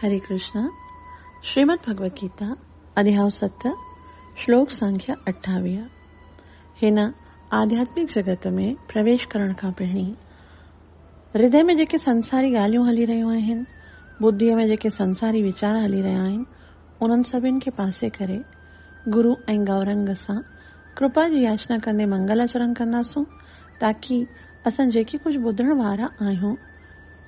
هري ڪرشنا شريمد ڀڳوت گيتا اڌيائو ست شلوڪ سنکيا اٺاويهه هن آڌياتمڪ جڳت ۾ پرويش ڪرڻ کان پهرين هردي ۾ جيڪي سنساري ڳالهيون هلي رهيون آهن ٻڌيء ۾ جيڪي سنساري ويچار هلي رهيا آهن انهن سڀن کي پاسي ڪري گرو ۽ گورنگ سان ڪرپا جي ياچنا ڪندي منگل آچرڻ ڪنداسون تاڪي اسان جيڪي ڪجهه ٻڌڻ وارا آهيون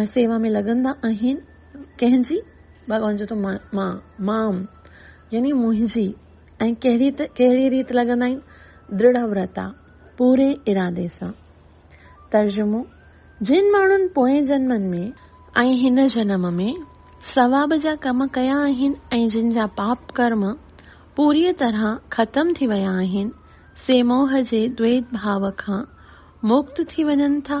۽ سيوا ۾ لڳندا آهن. ڪنهن جي؟ ڀڳوان چوي ٿو مان، مام، يعني منهنجي، ۽ ڪهڙي ته ڪهڙي ريت لڳندا آهن؟ دڙه ورتا، پوري ارادي سان. ترجمو، جن ماڻهن پوئين جنمن ۾. ۽ هن جنم ۾ ثواب جا ڪم ڪيا آهن ۽ جن جا پاپ ڪرم پوريء طرح ختم ٿي ويا آهن، سي موهه جي دويت ڀاو کان مڪت ٿي وڃن ٿا.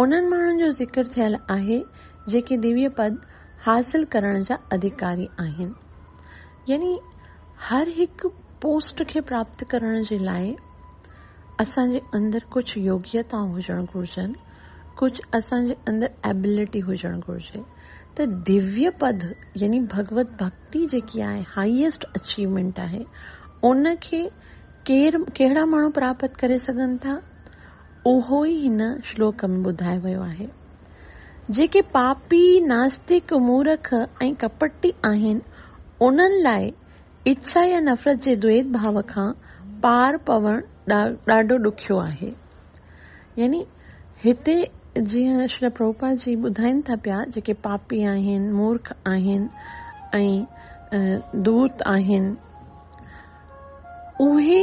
انهن ماڻهن جو ذڪر ٿيل آهي جيڪي ديويه پد حاصل ڪرڻ جا اڌيڪاري آهن. يعني هر هڪ پوسٽ کي پراپت ڪرڻ جي لاء اسان جي اندر ڪجهه يوگيتائون هجڻ گهرجن، ڪجهه اسان جي اندر ايبلٽي هجڻ گهرجي ته ديويه پد يعني ڀڳوت ڀڳتي جيڪي آهي هائيسٽ اچيومينٽ آهي ان کي ڪير ڪهڙا ماڻهو پراپت ڪري سگهن ٿا؟ اهو ئي هن شلوڪ ۾ ٻڌايو ويو آهي. جيڪي پاپي، ناستڪ، مورک ۽ ڪپٽي آهن، انهن لاء اڇا يا نفرت جي دويت ڀاء کان پار پوڻ ڏاڍو ڏکيو آهي. يعني هتي جيئن شريل پرڀوپاد جي ٻڌائين ٿا پيا جيڪي پاپي آهن، مورک آهن ۽ دوت آهن اهي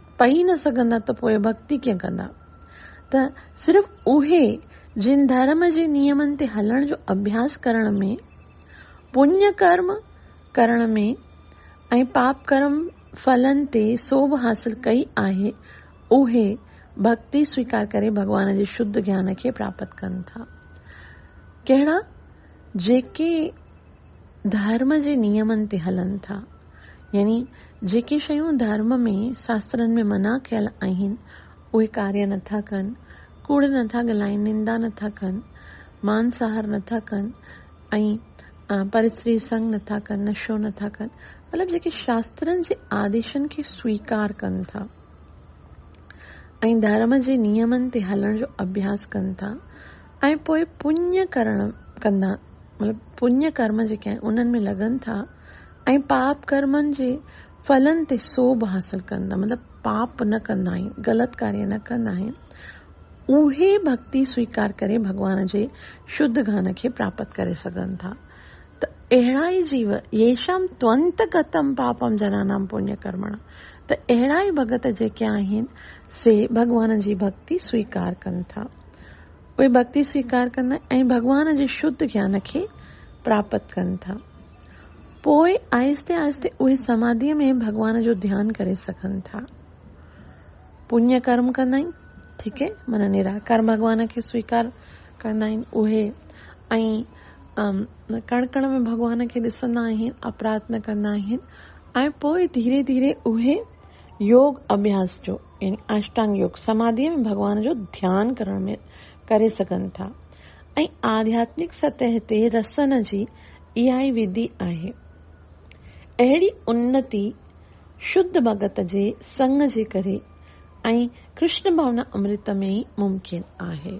پئي نه سگهندا ته پوء ڀڳتي ڪيئن ڪندا؟ ته صرف اهي جن ڌرم جي نيمن تي هلڻ جو اڀياس ڪرڻ ۾، پڃ ڪرم ڪرڻ ۾ ۽ پاپ ڪرم ڦلن تي سوڀ حاصل ڪئي آهي، اهي ڀڳتي سويڪار ڪري ڀڳوان جي شڌ گيان کي پراپت ڪن ٿا. ڪهڙا؟ جيڪي ڌرم جي نيمن تي هلن ٿا يعني جيڪي شيون ڌرم ۾ شاسترن ۾ منع ڪيل آهن اهي ڪاريه نه ٿا ڪن، ڪوڙ نه ٿا ڳلائين، نندا نه ٿا ڪن، مانساهر نه ٿا ڪن ۽ پرستري سنگ نه ٿا ڪن، نشو نه ٿا ڪن مطلب جيڪي شاسترن جي آديشن کي سويڪار ڪن ٿا ۽ ڌرم جي نيمن تي هلڻ جو اڀياس ڪن ٿا. ۽ پوء پڃ ڪرڻ ڪندا مطلب پڃ ڪرم جيڪي آهن انهن ۾ لڳن ٿا ۽ پاپ ڪرمن جي ڦلن تي سوڀ حاصل ڪندا مطلب پاپ نه ڪندا آهن غلط ڪاري نه ڪندا آهن اهي ڀڳتي سويڪار ڪري ڀڳوان جي شڌ گان کي پراپت ڪري سگهن ٿا ته اهڙا ئي جيو يشام تونت گتم پاپم جنانام پڃ ڪرمڻ ته اهڙا ئي ڀڳت جيڪي آهن سي ڀڳوان جي ڀڳتي سويڪار ڪن ٿا اهي ڀڳتي سويڪار ڪندا ۽ ڀڳوان جي شڌ گيان کي پراپت ڪن ٿا. پوء آهستي آهستي اهي سماڌيء ۾ ڀڳوان جو ڌيان ڪري سگهن ٿا. پڃ ڪرم ڪندا آهن، ٺيڪ اهي معنيٰ نراڪار ڀڳوان کي سويڪار ڪندا آهن اهي ۽ ڪڻ ڪڻ ۾ ڀڳوان کي ڏسندا آهن، اپرات نه ڪندا آهن ۽ پوء ڌيري ڌيري اهي يوگ اڀياس جو يعني اشٽانگ يوگ سماڌيء ۾ ڀڳوان جو ڌيان ڪرڻ ۾ ڪري سگهن ٿا ۽ آڌياتمڪ سطح تي رسن جي اها ئي وڌي آهي. اهڙي انتي شڌ ڀڳت جي سڱ جي ڪري ۽ ڪرشن ڀاونا امرت ۾ ئي ممڪن آهي.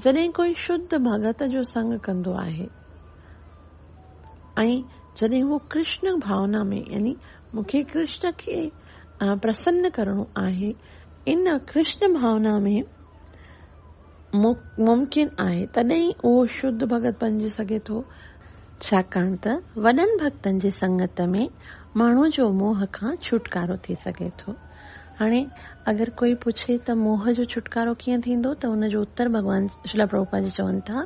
جڏهن ڪوئي شڌ ڀڳت جو سڱ ڪندو آهي. ۽ جڏهن هو ڪرشن ڀاونا ۾ يعني مون کي ڪرشن کي پرسن ڪرڻو آهي ان ڪرشن ڀاونا ۾ ممڪن آهي تڏهن ئي اهو شڌ ڀڳت بنجي سگهي ٿو. ڇاڪاڻ ته وڏن ڀڳتن جي سنگت ۾ ماڻهو جو موهه کان ڇوٽڪارو ٿي سگهي ٿو. هاڻي اگر ڪوئي پڇي ته موهه جو ڇوٽڪارو ڪيئن ٿيندو ته ان جو اتر ڀڳوان شيلا پرڀوپاد جي چون ٿا،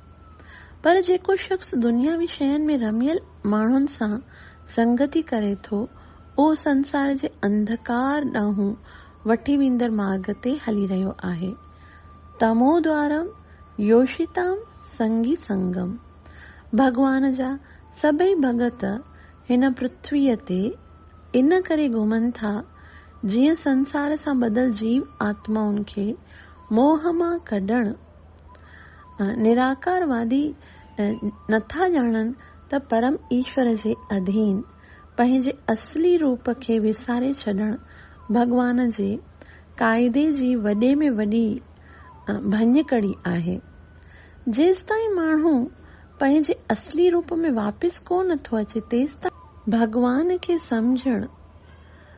پر جيڪو شخص دنياوي شين ۾ رميل ماڻهن سان سنگتي ڪري ٿو، اهو سنسار جي انڌڪار ڏانهن وٺي ويندڙ مارگ تي هلي رهيو آهي. تمو دوارم يوشيتام سنگي سنگم. ڀڳوان جا سڀئي ڀڳت هن پرٿويء تي ان ڪري گهمن ٿا، جيئن سنسار سان ٻڌل جيو آتمائن کي موهه مان ڪڍڻ، نراڪار وادي نٿا ڄاڻن ته پرم ايشور جي اڌين پنهنجي اصلي روپ کي وساري ڇڏڻ ڀڳوان جي قاعدي جي وڏي ۾ وڏي ڀڃڪڙي آهي. جيستائين ماڻهو پنهنجي اصلي روپ ۾ واپس ڪو نٿو اچي تيستائين. ڀڳوان کي سمجهڻ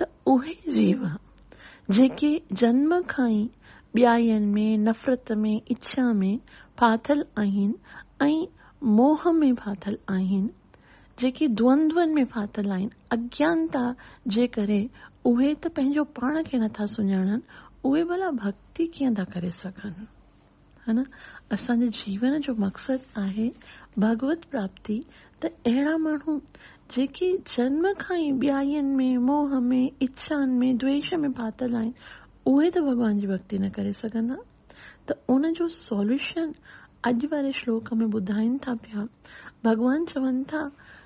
ته اهي جيو جيڪي جنم کان ئي ٻيائين ۾ نفرت ۾ اڇا ۾ ڦاٿل آهن ۽ موهه ۾ ڦاٿل آهن جيڪي دوندون ۾ ڦاٿل آهن اجنتا جي ڪري اهي ته پنهنجو پاڻ کي نٿا سڃاڻن اهي ڀلا ڀڳتي ڪيئن ٿا ڪري سگهن. ها نه اسان جي جيون جو مقصد آهي ڀڳوت پراپتي ته اهڙا ماڻهو جيڪي جنم کان ئي ٻيائين ۾ موهه ۾ اڇان ۾ دويش ۾ ڦاٿل آهن اهي ته ڀڳوان جي ڀڳتي نه ڪري سگهندا ته ان جو سوليوشن اڄ واري شلوڪ ۾ ٻڌائين ٿا پيا ڀڳوان چون ٿا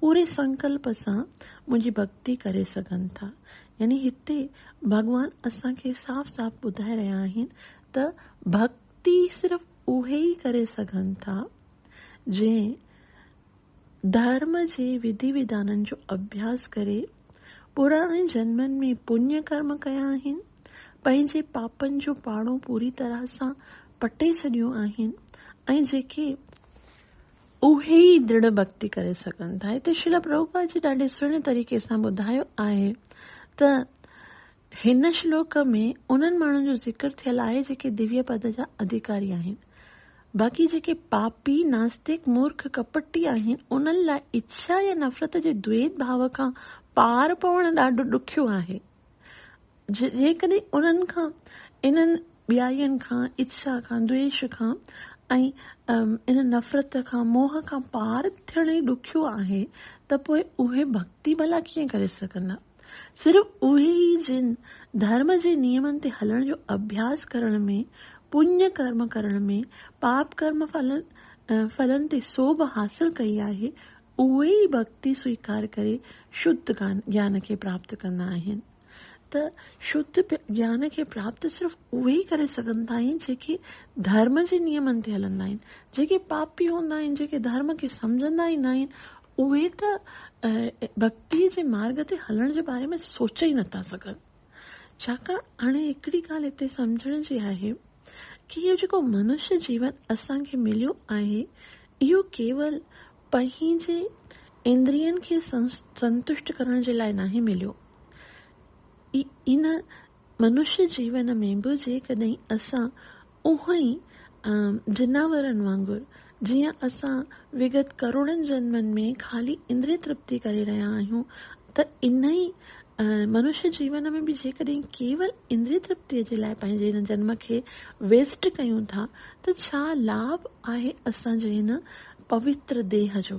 پوري سنڪلپ سان منهنجي ڀڳتي ڪري سگهن ٿا. يعني هتي ڀڳوان اسان کي صاف صاف ٻڌائي رهيا آهن ته ڀڳتي صرف اهي ئي ڪري سگهن ٿا جنهن ڌرم جي وڌي وڌانن جو اڀياس ڪري پراڻن جنمن ۾ پڃ ڪرم ڪيا آهن، پنهنجي پاپن جو پاڙو پوري طرح سان پٽي ڇڏيو آهن ۽ جيڪي اهي ئي دڙ ڀڳتي ڪري سگهن ٿا. هتي شريلا پرڀوپاد جي ڏاڍي سهڻي طريقي سان ٻڌايو آهي ته هن شلوڪ ۾ انهن ماڻهن جو ذڪر ٿيل آهي جيڪي ديويه پد جا اڌيڪاري آهن. باقي جيڪي پاپي، ناستڪ، مورک، ڪپٽي آهن انهن لاء اڇا يا نفرت جي دويت ڀاو کان پار پوڻ ڏاڍو ڏکيو آهي. جيڪڏهن انهن کان، انهن ٻيائين کان، اتساهه کان، دويش کان ۽ ان نفرت کان، موهه کان، پار ٿيڻ ئي ڏکيو آهي ته پوء اهي ڀڳتي ڀلا ڪيئن ڪري سگهندا؟ صرف اهي ئي جن ڌرم جي نيمن تي هلڻ جو اڀياس ڪرڻ ۾، پڃ ڪرم ڪرڻ ۾، پاپ ڪرم فلن تي سوڀ حاصل ڪئي آهي، اهي ئي ڀڳتي سويڪار ڪري شڌ گيان کي پراپت ڪندا آهن ته شڌ گيان کي پراپت صرف اهي ئي ڪري سگهن ٿا آهن جيڪي ڌرم جي نيمن تي هلندا آهن جيڪي پاپي هوندا آهن جيڪي ڌرم کي سمجهندا ئي ناهن اهي ته ڀڳتي جي مارگ تي هلڻ جي باري ۾ سوچي ئي نٿا سگهن. ڇاڪاڻ هاڻي هڪڙي ڳالهه هتي سمجهڻ جي آهي ڪي اهو جيڪو منشي جيون اسان کي مليو آهي اهو ڪيول پنهنجي اندرين کي سنتشٽ ڪرڻ جي لاء ناهي مليو ان منشي جيون ۾ به جيڪڏهن اسان اهو ئي عام جناورن وانگر، جيئن اسان وگت ڪروڙن جنمن ۾ خالي اندري ترپتي ڪري رهيا آهيون ته انهي منشيه جيون ۾ به جيڪڏهن ڪيول اندري ترپتيء جي لاء پنهنجي هن جنم کي ويسٽ ڪيون ٿا ته ڇا لاڀ آهي اسان جي هن پوتر ديهه جو؟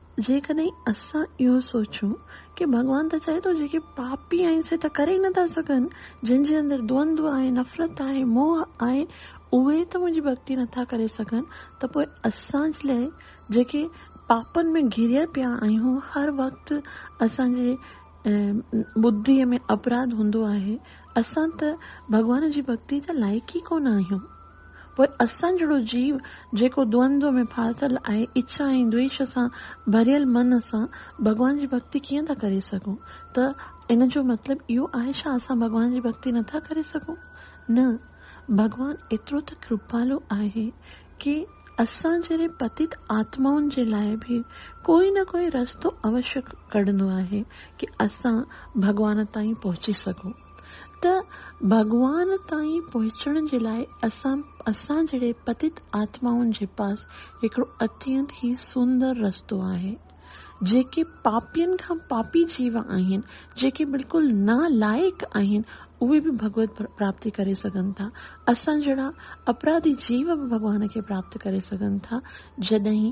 جيڪڏهن اسان اهو سوچون ڪي ڀڳوان ته چاهي ٿو جيڪي پاپي آهن سي ته ڪري ئي نٿا سگهن، جن جي اندر دوندو آهي، نفرت آهي، موهه آهي، اهي ته منهنجي ڀڳتي نٿا ڪري سگهن ته پوء اسان جي لاء جيڪي پاپن ۾ گهيريل پيا آهيون هر وقت اسان جي ٻڌيء ۾ اپراڌ هوندو آهي، اسان ته ڀڳوان جي ڀڳتي جا لائق ئي ڪونه آهيون. پوء اسان جهڙو جيو جيڪو دوندوء ۾ ڦاٿل آهي، اڇا ۽ دويش سان ڀريل من سان ڀڳوان جي ڀڳتي ڪيئن ٿا ڪري سگهون؟ ته ان جو مطلب اهو آهي ڇا اسان ڀڳوان جي ڀڳتي نه ٿا ڪري سگهون؟ نه، ڀڳوان ايترو ته ڪرپالو آهي ڪي اسان جهڙي پتيت آتمائن جي لاء به ڪوئي نه ڪوئي رستو اوشي ڪڍندو آهي ڪي اسان ڀڳوان تائين پهچي سگهون. ته ڀڳوان تائين پهچڻ جي لاء اسان اسان جهڙي پتت آتمائن جي پاس هڪڙو اتينت ئي سندر رستو آهي. جيڪي پاپين کان پاپي جيو آهن، جيڪي بلڪل نا لائق آهن، اهي به ڀڳوت پراپتي ڪري سگهن ٿا. اسان جهڙا اپراڌي جيو به ڀڳوان کي پراپت ڪري سگهن ٿا، جڏهن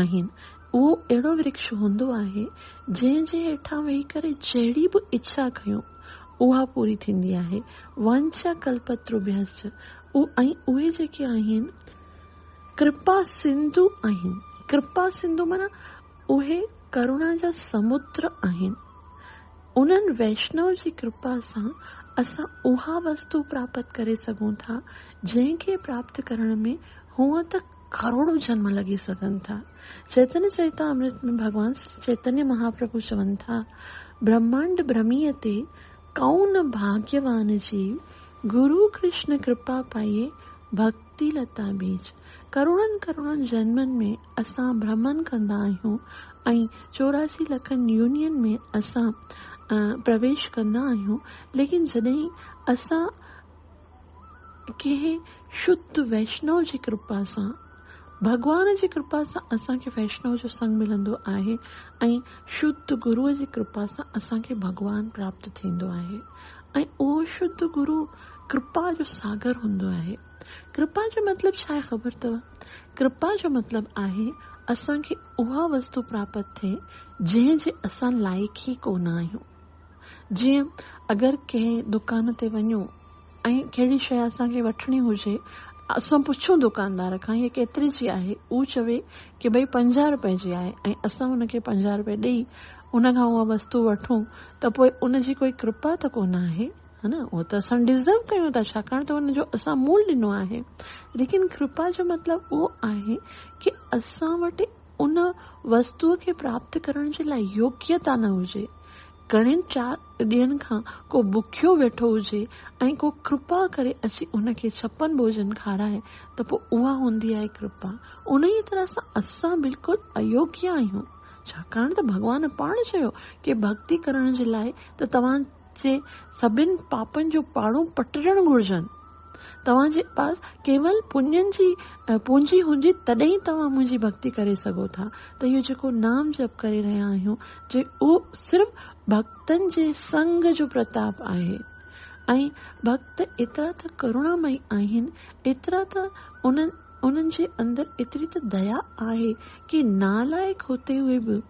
آهن. اهو اهڙو ورڪش هوندو آهي، جنهن جي هيٺان ويهي ڪري جهڙي به اڇا ڪيون، اها پوري ٿيندي آهي. وانڇا ڪلپتروڀيسچ، اهو ۽ اهي جيڪي آهن، ڪرپا سنڌو آهن. ڪرپا سنڌو معنيٰ اهي ڪروڻا جا سمنڊ آهن. انهن ويشنو جي ڪرپا سان اسان اها وستو پراپت ڪري سگهون ٿا، جنهن کي پراپت ڪرڻ ۾ هونئن ته ڪروڙون جنم لڳي سگهن ٿا. چيتن چريتا امرت ۾ ڀڳوان شري چيتنيه مهاپرڀو چون ٿا، برهمانڊ برهميء تي ڪئون نه ڀاڳيوان جي، گرو ڪرشن ڪرپا پائي ڀڳتي لتا ٻيج. ڪروڙن ڪروڙن جنمن ۾ اسان برهمن ڪندا آهيون ۽ چوراسي لکن يونين ۾ اسان پرويش ڪندا آهيون ليڪن جڏهن اسان. ڪنهن شڌ ويشنو جي ڪرپا سان، ڀڳوان جي ڪرپا سان اسان کي ويشنو جو سنگ ملندو آهي ۽ شڌ گروء جي ڪرپا سان اسان کي ڀڳوان پراپت ٿيندو آهي ۽ اهو شڌ گرو ڪرپا جو ساگر هوندو آهي. ڪرپا جو مطلب ڇا آهي خبر اٿو؟ ڪرپا جو مطلب آهي اسان کي اها وستو پراپت ٿئي جنهن جي اسان لائق ئي ڪونه آهيون. جيئن اگر ڪنهن دڪان تي وڃون ۽ ڪهڙي شيء اسان کي وٺڻي هجي اسان پڇون دڪاندار کان هيء ڪيتري جي آهي هو چوي ڪي ڀئي پنجاهه روپئي جي آهي ۽ اسان ان کي پنجاهه روپئي ڏئي ان کان اها وستو وٺون ته پوء ان جي ڪوئي ڪرپا ته ڪونه آهي ها نه اهو ته اسان ڊزرو ڪيون ٿا ڇاڪاڻ ته ان جو اسان مول ڏنو آهي ليڪن ڪرپا جو مطلب اهو آهي ڪي اسان وٽ ان وستوء کي پراپت ڪرڻ جي لاء يوگيتا نه هجي، گهڻين چار ڏينهن کان ڪو بکيو ويٺو هجي ۽ ڪو ڪرپا ڪري اچي ان کي ڇپن ڀوڄن کارائي ته پوء اها هوندي آهي ڪرپا. انهيء طرح سان اسان بلڪل ايوگيا آهيون، ڇاڪاڻ ته ڀڳوان پاڻ چيو ڪي ڀڳتي ڪرڻ جي لاء ته توهان جي سڀن پاپن جو پاڙو پٽرڻ گهرجن. توهان جي پاس ڪيول پڃن جي پونجي هوندي تڏهن ئي توهان منهنجي ڀڳتي ڪري سگهو ٿا ته اهو جيڪو نام جپ ڪري رهيا آهيون جي اهو صرف ڀڳتن جي سنگ جو پرتاپ آهي ۽ ڀڳت ايترا ته ڪرونامئي آهن ايترا ته انهن انهن جي اندر ايتري ته ديا آهي ڪي نالائق هوتي هئي به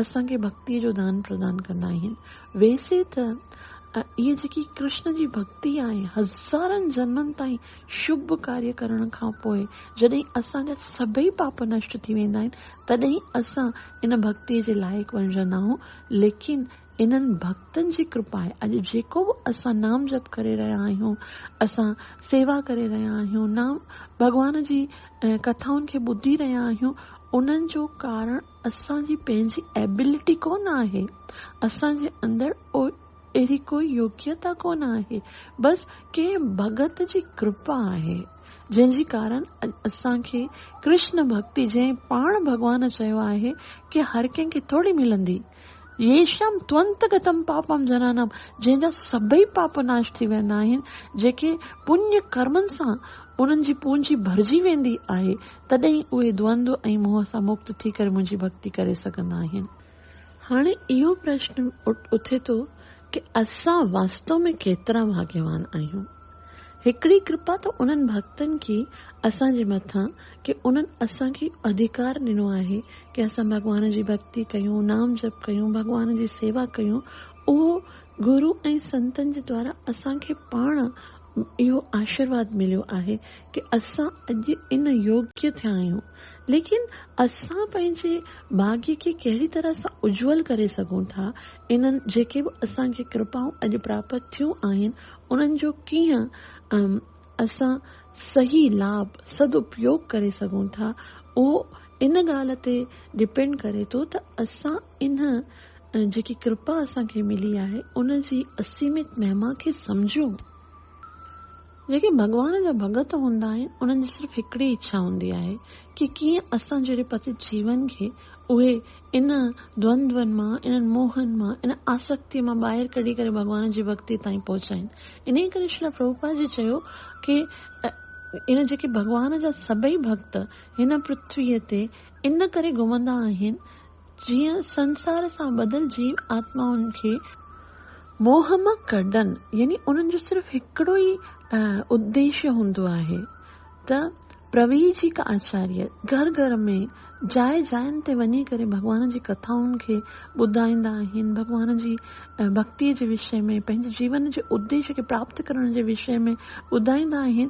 اسان کي ڀڳتيء جو دان پردان ڪندا آهن. ويسي ته اهي جيڪي ڪرشن جي ڀڳتي آهي، هزارن جنمن تائين شڀ ڪاريه ڪرڻ کان پوء جڏهن اسان جا سڀئي پاپ نشٽ ٿي ويندا آهن، تڏهن اسان ان ڀڳتيء جي لائق بڻجندا آهون، ليڪن انهن ڀڳتن جي ڪرپائي اڄ جيڪو به اسان نام جپ ڪري رهيا آهيون، اسان سيوا ڪري رهيا آهيون، نام ڀڳوان جي ڪٿائن کي ٻڌي رهيا آهيون، انهن جو ڪارڻ اسان جي پنهنجي ايبلٽي ڪونه آهي، اسان جي اندر اهڙي ڪو يوگيتا ڪونه آهي، بس ڪنهن ڀڳت جي ڪرپا آهي، جنهن جي ڪارڻ اڄ اسان کي ڪرشن ڀڳتي جنهن پاڻ ڀڳوان چيو آهي ڪي هر ڪنهن کي ٿوري ملندي، ييشم تونت گتم پاپم جنانم جنهن جا سڀئي پاپ ناش ٿي ويندا آهن، جيڪي پڃ ڪرمن سان انهن جي پونجي ڀرجي ويندي آهي، تڏهن اهي دوندو ۽ موهه سان مڪت ٿي ڪري منهنجي ڀڳتي ڪري سگهندا آهن. هاڻي اهو پرشن اٿي ٿو ڪه اسان واستو ۾ ڪيترا ڀاگيوان آهيون. هڪڙي ڪرپا ته انهن ڀڳتن ڪي اسان جي مٿان ڪه انهن اسان کي اهو اڌڪار ڏنو آهي ڪه اسان ڀڳوان جي ڀڳتي ڪيون، نام جپ ڪيون، ڀڳوان جي سيوا ڪيون، اهو گرو ۽ سنتن جي دوارا اسان کي پاڻ اهو آشيرواد مليو آهي ڪي اسان اڄ ان يوگيا ٿيا آهيون ليڪن اسان پنهنجي ڀاڳي کي ڪهڙي طرح سان اجول ڪري سگهون ٿا انهن جيڪي به اسان کي ڪرپائون اڄ پراپت ٿيون آهن انهن جو ڪيئن اسان صحيح لاڀ سداپيوگ ڪري سگهون ٿا اهو ان ڳالهه تي ڊپينڊ ڪري ٿو ته اسان ان جيڪي ڪرپا اسان کي ملي آهي ان جي اسيمت مهما کي سمجهيون. جيڪي ڀڳوان جا ڀڳت هوندا آهن انهن جي صرف هڪڙي اڇا هوندي آهي ڪي ڪيئن اسان جهڙي پتت جيون کي اهي ان دوندون مان انهن موهن مان ان آسڪتي مان ٻاهر ڪڍي ڪري ڀڳوان جي ڀڳتي تائين پهچائين انهي ڪري شريلا پرڀوپاد جي چيو ڪي ان جيڪي ڀڳوان جا سڀئي ڀڳت هن پرٿوي تي ان ڪري گهمندا آهن جيئن سنسار سان ٻڌل جيو آتمائن کي موهه مان ڪڍن، يعني انهن جو صرف هڪڙو ئي اديشي هوندو آهي ته پرويجيڪ آچاريه گهر گهر ۾، جاء جاين تي وڃي ڪري ڀڳوان جي ڪٿائن کي ٻڌائيندا آهن، ڀڳوان جي ڀڳتي جي وشي ۾ پنهنجي جيون جي اديشي کي پراپت ڪرڻ جي وشي ۾ ٻڌائيندا آهن،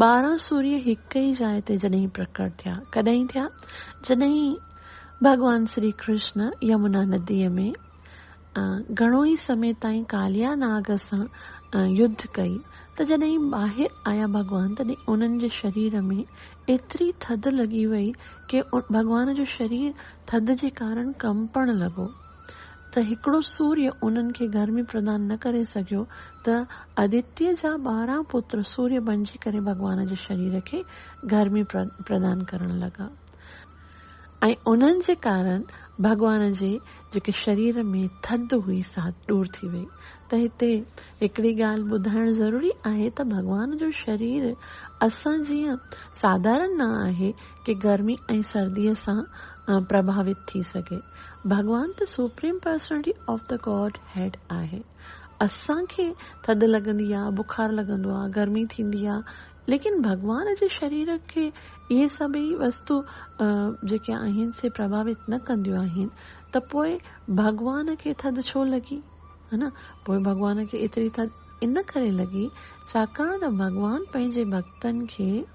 ٻارهن سوريء هڪ ئي جاء تي جڏهن پرڪٽ ٿيا، ڪڏهن ٿيا؟ جڏهن ڀڳوان شري ڪرشن يمنا نديء ۾ گهڻو ئي سمي تائين ڪاليا ناگ سان يڌ ڪئي ته جڏهن ٻاهر آيا ڀڳوان تڏهن انهن جي شرير ۾ ايتري ٿڌ لڳي وئي ڪي ڀڳوان جو شرير ٿڌ جي ڪارڻ ڪنپڻ لڳو. ته هڪڙو سوريء انهن کي گرمي پردان نه ڪري سگهيو ته آدتيء جا ٻارهن پتر سوريء بنجي ڪري ڀڳوان جي شرير کي گرمي پردان ڪرڻ لڳا ۽ انهن جي ڪارڻ ڀڳوان جي جيڪي شرير ۾ ٿڌ هئي سا ڏور ٿي وئي ته هتي هڪڙي ڳالهه ٻڌائڻ ضروري آهي ته ڀڳوان جو شرير اسان جيئن ساڌارن نه آهي ڪي گرمي ۽ سرديء سان پرڀاوت ٿي سگهي. ڀڳوان ته supreme personality of the godhead آهي. اسان کي ٿڌ لڳندي آ، بخار لڳندو آ، گرمي ٿيندي آ، ليڪن ڀڳوان جي شرير کي اهي سڀئي وستو جيڪي آهن سي پرڀاوت نه ڪنديون آهن ته پوء ڀڳوان کي ٿڌ ڇو لڳي؟ ها نه؟ پوء ڀڳوان کي ايتري ٿڌ ان ڪري لڳي ڇاڪاڻ ته ڀڳوان پنهنجي ڀڳتن کي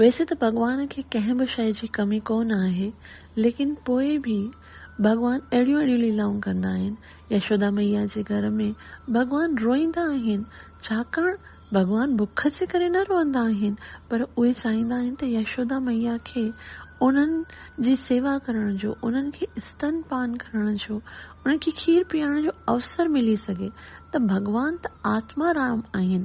ويسي ته ڀڳوان کي ڪنهن به شيء جي ڪمي ڪو نه آهي، ليڪن پوء به ڀڳوان اهڙيون اهڙيون ليلائون ڪندا آهن. يشودا ميا جي گهر ۾ ڀڳوان روئيندا آهن، ڇاڪاڻ ڀڳوان بک جي ڪري نه روئندا آهن، پر اهي چاهيندا آهن ته يشودا ميا کي انهن جي سيوا ڪرڻ جو، انهن کي استن پان ڪرڻ جو، انهن کي کير پيارڻ جو اوسر ملي سگهي ته ڀڳوان ته آتما رام آهن،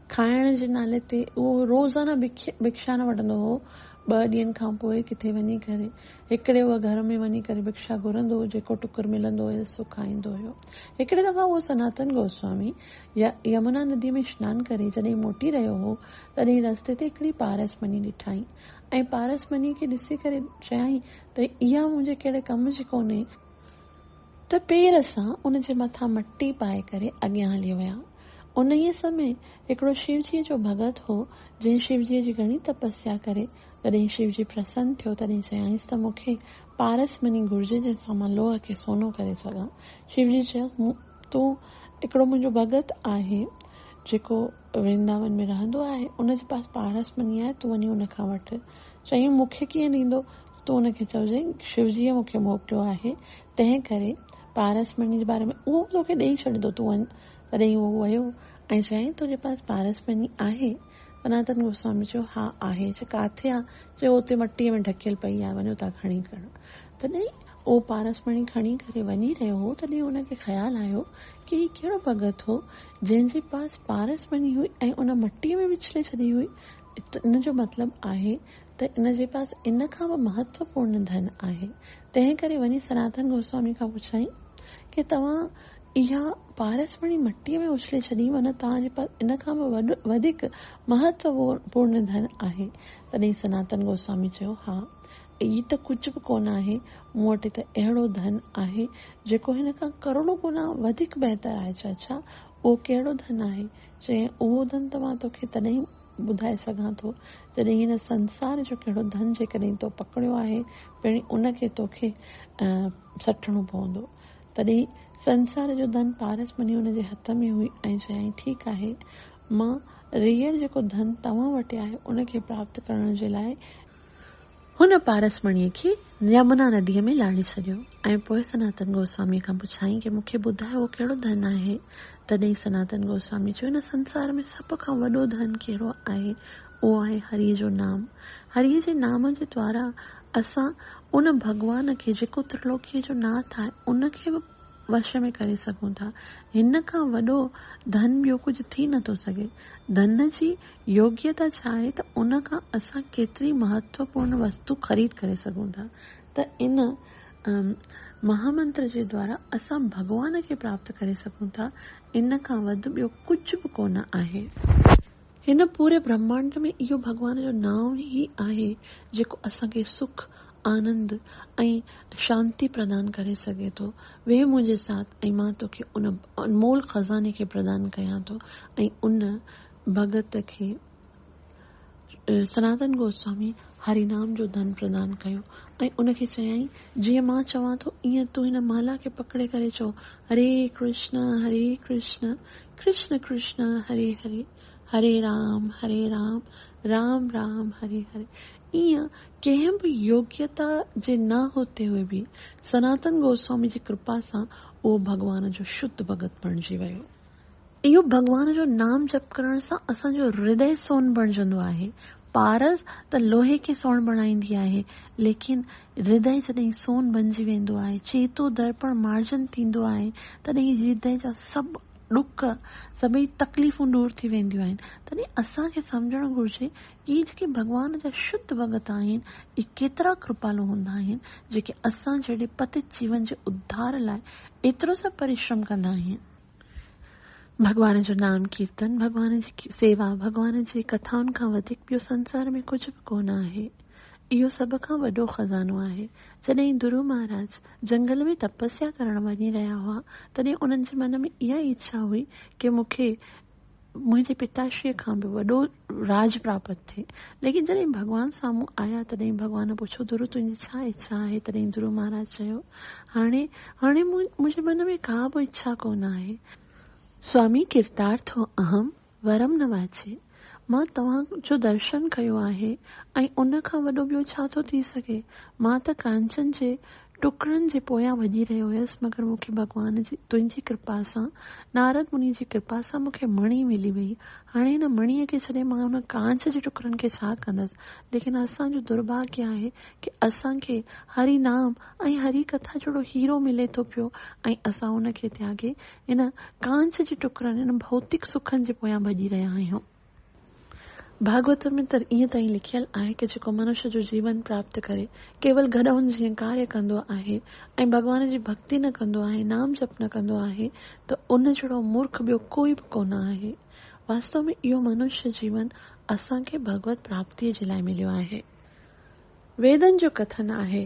کائڻ جي نالي تي اهو روزانه ڀڪشان وٺندو هو. ٻه ڏينهن کان پوء ڪٿي وڃي ڪري هڪڙي اهو گهر ۾ وڃي ڪري ڀڪشا گهرندو هو، جيڪو ٽڪر ملندو هيس سو کائيندو هيو. هڪڙي دفعا اهو سناتن گوسوامي يمنا نديء ۾ شنان ڪري جڏهن موٽي رهيو هو، تڏهن رستي تي هڪڙي پارس مڃي ڏٺائين ۽ پارس مڃي کي ڏسي ڪري چيائين ته اها منهنجي ڪهڙي ڪم جي ڪونهي، ته پير سان ان جي مٿان مٽي پائي ڪري اڳيان هلي ويا. انهيء سمي هڪڙو شيوجيء جو ڀڳت هو، جنهن شيوجيء جي گهڻي تپسيا ڪري، جڏهن شيوجي پرسن ٿيو، تڏهن چيائينس ته مون کي پارس مڃي گهرجي، جنهن سان مان لوهه کي سونو ڪري سگهان. شيوجيء چيس، مون تون هڪڙو منهنجو ڀڳت آهي، جيڪو ورنداون ۾ رهندو آهي، ان جي پاس پارس مڃي آهي، تون وڃي ان کان وٺ. چيائين، مون کي ڪيئن ڏيندو؟ تون هن کي چئجانء، شوجيء مون کي موڪليو آهي، تنهن ڪري پارس مڻيء جي باري ۾ اهو به توکي ڏيئي ڇڏيندو، تون وڃ. تڏهن هو ويو ۽ چيائين، تنهنجي پاس پارس مڻي آهي؟ سناتن گوسواميء چيو، ها آهي. چي ڪاٿي آ؟ چي اهو اتي مٽيء ۾ ڍڪيل پئي آهي، وڃو تان کڻي ڪر. تڏهن اهو پارس مڻي کڻي ڪري وڃي رهيو هو، تڏهن هن کي خيال آيو ڪي هي ڪهڙو ڀڳت هو، جنهن جي پاس پارس مڻي هئي ۽ ان مٽيء ۾ وڇلي ڇڏي هئي. ان جو مطلب آهي ته ان جي پاس ان کان به مهتوپورن ڌن آهي، تنهن ڪري وڃي سناتن گوسوامي کان پڇيائين ڪي توهان اها پارس مڻي مٽيء ۾ اڇلي ڇڏي مان توهان جي پاس ان کان به وڌيڪ مهتوپورن ڌن آهي؟ تڏهن سناتن گوسوامي چيو ها اهي ته ڪجهه به ڪونه آهي، مون وٽ ته اهڙو ڌن آهي جيڪو هن کان ڪروڙون گنا وڌيڪ بهتر آهي چئه ڇا اهو ڪهڙو ڌن آهي؟ چيائين اهو ڌن ته مان توکي تڏهن ٻڌائي سگهان ٿو، جڏهن هن سنسار جو ڪهڙو ڌن جيڪڏهن تو پڪڙيو آهي، پڻ ان کي توکي سٽڻو پوندو. تڏهن سنسار جو ڌن پارس مڃي ان جي هٿ ۾ هئي ۽ چيائين، ٺيڪ آهي، مان ريئل جيڪو ڌن توهان وٽ آهي، ان کي پراپت ڪرڻ جي لاء، هن پارس مڻيء کي يمنا نديء ۾ لاڙي ڇڏيو ۽ پوء سناتن گوسواميء کان پڇيائين ڪي مون کي ٻڌاء اهو ڪهڙو ڌن آهي؟ تڏهين سناتن گوسواميء چيو هن سنسار ۾ سڀ کان وڏو ڌن ڪهڙو آهي؟ اهو آهي هريء جو نام. هريء جي نام جي دوارا اسان ان ڀڳوان کي جيڪو ترلوڪيء جو ناٿ آهي ان کي به وش ۾ ڪري سگهون ٿا. هن کان وڏو ڌن ٻيو ڪجهه ٿي نٿو سگهي. ڌن جي يوگيتا ڇا آهي ته ان کان اسان ڪيتري مهتوپورن وستو خريد ڪري سگهون ٿا ته ان مهامنتر جي دوارا اسان ڀڳوان کي پراپت ڪري سگهون ٿا ان کان وڌ ٻيو ڪجهه به ڪونه آهي. هن پوري برهمانڊ ۾ اهو ڀڳوان جو نانء ئي آهي جيڪو اسان کي سک، آنند ۽ شانتي پردان ڪري سگهي ٿو. ويهه منهنجي ساٿ ۽ مان توکي ان انمول خزاني کي پردان ڪيان ٿو ۽ ان ڀڳت کي سناتن گوسواميء هري نام جو ڌن پردان ڪيو ۽ ان کي چيائين، جيئن مان چوان ٿو، ايئن تون هن مالا کي پڪڙي ڪري چئو، هري ڪرشن هري ڪرشن ڪرشن ڪرشن هري هري، هري رام هري رام رام رام هري هري. ايئن ڪنهن به يوگيتا جي نه هوتي هوئي به سناتن گوسواميء جي ڪرپا سان اهو ڀڳوان جو شڌ ڀڳت بڻجي ويو. اهو ڀڳوان جو نام جپ ڪرڻ سان اسان جو هردئي سون بڻجندو آهي. پارس ته لوهي کي سون بڻائيندي آهي، ليڪن هردئي جڏهن سون بڻجي ويندو آهي، چيتو درپڻ مارجن ٿيندو آهي، تڏهن هردئي جا سڀ ڏک، سڀئي تڪليفون دور ٿي وينديون آهن. تڏهن اسان کي سمجهڻ گهرجي ته اهي جيڪي ڀڳوان جا شڌ ڀڳت آهن، اهي ڪيترا ڪرپالو هوندا آهن، جيڪي اسان جهڙي پتت جيون جي اڌار لاء ايترو سڀ پريشرم ڪندا آهن. ڀڳوان جو نام ڪيرتن، ڀڳوان جي سيوا، ڀڳوان جي ڪٿائن کان وڌيڪ ٻيو سنسار ۾ ڪجهه به ڪونه آهي. اهو سڀ کان وڏو خزانو آهي. جڏهن درو مهاراج جنگل ۾ تپسيا ڪرڻ وڃي رهيا هئا، تڏهن انهن جي من ۾ اها ئي اڇا هئي ڪي مون کي منهنجي پتاشيء کان به وڏو راڄ پراپت ٿئي. ليڪن جڏهن ڀڳوان سامهون آيا، تڏهن ڀڳوان پڇيو، ڌرو تنهنجي ڇا اڇا آهي؟ تڏهن ڌرو مهاراج چيو، هاڻي، هاڻي منهنجي من ۾ ڪا به اڇا ڪونه آهي. سوامي ڪرتارٿو اهم ورم نه واچي. مان توهان جو درشن ڪيو آهي ۽ ان کان وڏو ٻيو ڇا ٿو ٿي سگهي؟ مان ته ڪانچن جي ٽڪرن جي پويان ڀڄي رهيو هيس مگر مون کي ڀڳوان جي تنهنجي ڪرپا سان نارد مني جي ڪرپا سان مون کي مڻي ملي وئي. هاڻي هن مڻيء کي ڇڏي مان ان ڪانچ جي ٽڪرن کي ڇا ڪندس؟ ليڪن اسان جو درڀاگيه آهي ڪي اسان کي هري نام ۽ هري ڪٿا جهڙو هيرو ملي ٿو پيو ۽ اسان ان کي تياڳي ان ڪانچ جي ٽڪرن، ان ڀوتڪ سکن جي پويان ڀڄي رهيا آهيون. ڀاڳوت ۾ ته ائين تائين لکيل آهي ڪه جيڪو منش جو جيون پراپت ڪري ڪيول گڏهن جيئن ڪاري ڪندو آهي ۽ ڀڳوان جي ڀڳتي نه ڪندو آهي، نام جپ نه ڪندو آهي ته ان جهڙو مورک ٻيو ڪوئي به ڪونه آهي. واستو ۾ اهو منش جيون اسان کي ڀڳوت پراپتيء جي لاء مليو آهي. ويدن جو ڪٿن آهي.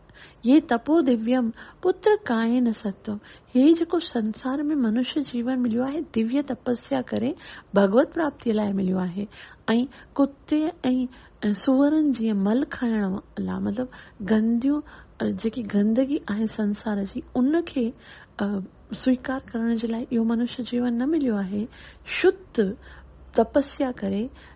يه تپو ديويم پتر ڪائين ستوم، هي جيڪو سنسار ۾ منشيه جيون مليو آهي، ديويه تپسيا ڪري ڀڳوت پراپتيء لاء مليو آهي ۽ ڪتي ۽ سوئرن جيئن مل کائڻ لاء مطلب گنديون جيڪي گندگي آهي سنسار جي ان کي سويڪار ڪرڻ جي لاء اهو منشيه جيون نه مليو آهي، شت تپسيا ڪري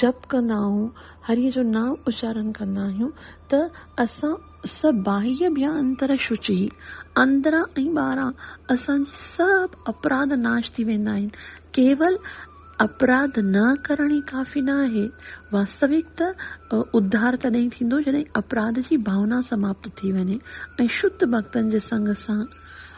جپ ڪندا آهون، هريء جو نانء اچارڻ ڪندا آهيون ته اسان سڀ باهيه ڀيان انترا شوچيه، اندران ۽ ٻاهران اسان جي سڀ اپراڌ ناش ٿي ويندا آهن. ڪيول اپراڌ نه ڪرڻ ئي ڪافي نه آهي. واستوڪ ته اڌار تڏهن ٿيندو جڏهن اپراڌ جي ڀاونا سماپت ٿي وڃي ۽ شڌ ڀڳتن جي سنگ سان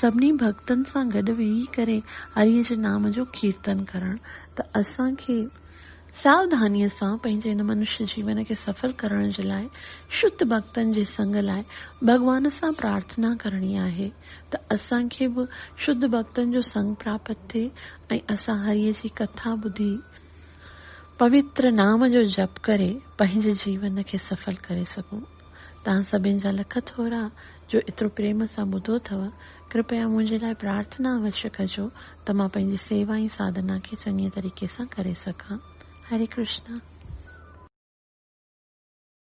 سڀني ڀڳتن سان گڏ ويهي ڪري هريء جي نام جو ڪيرتن ڪرڻ ته اسان کي ساوڌانيء سان پنهنجي هن منشيه جيون کي سڦل ڪرڻ جي لاء شڌ ڀڳتن جي سنگ لاء ڀڳوان سان پرارٿنا ڪرڻي آهي ته اسان کي به شڌ ڀڳتن جو سنگ پراپت ٿئي ۽ اسان هريء جي ڪٿا ٻڌي پوتر نام جو جپ ڪري پنهنجي جيون کي سڦل ڪري سگهون. توهان سڀني جا لک ٿورا جو ايترو پريم سان ٻڌو اٿئو. ڪرپيا منهنجي لاء پرارٿنا اوشي ڪجو ته مان پنهنجي سيوا ۽ ساڌنا کي چڱي طريقي سان ڪري سگهان. هري ڪرشنا.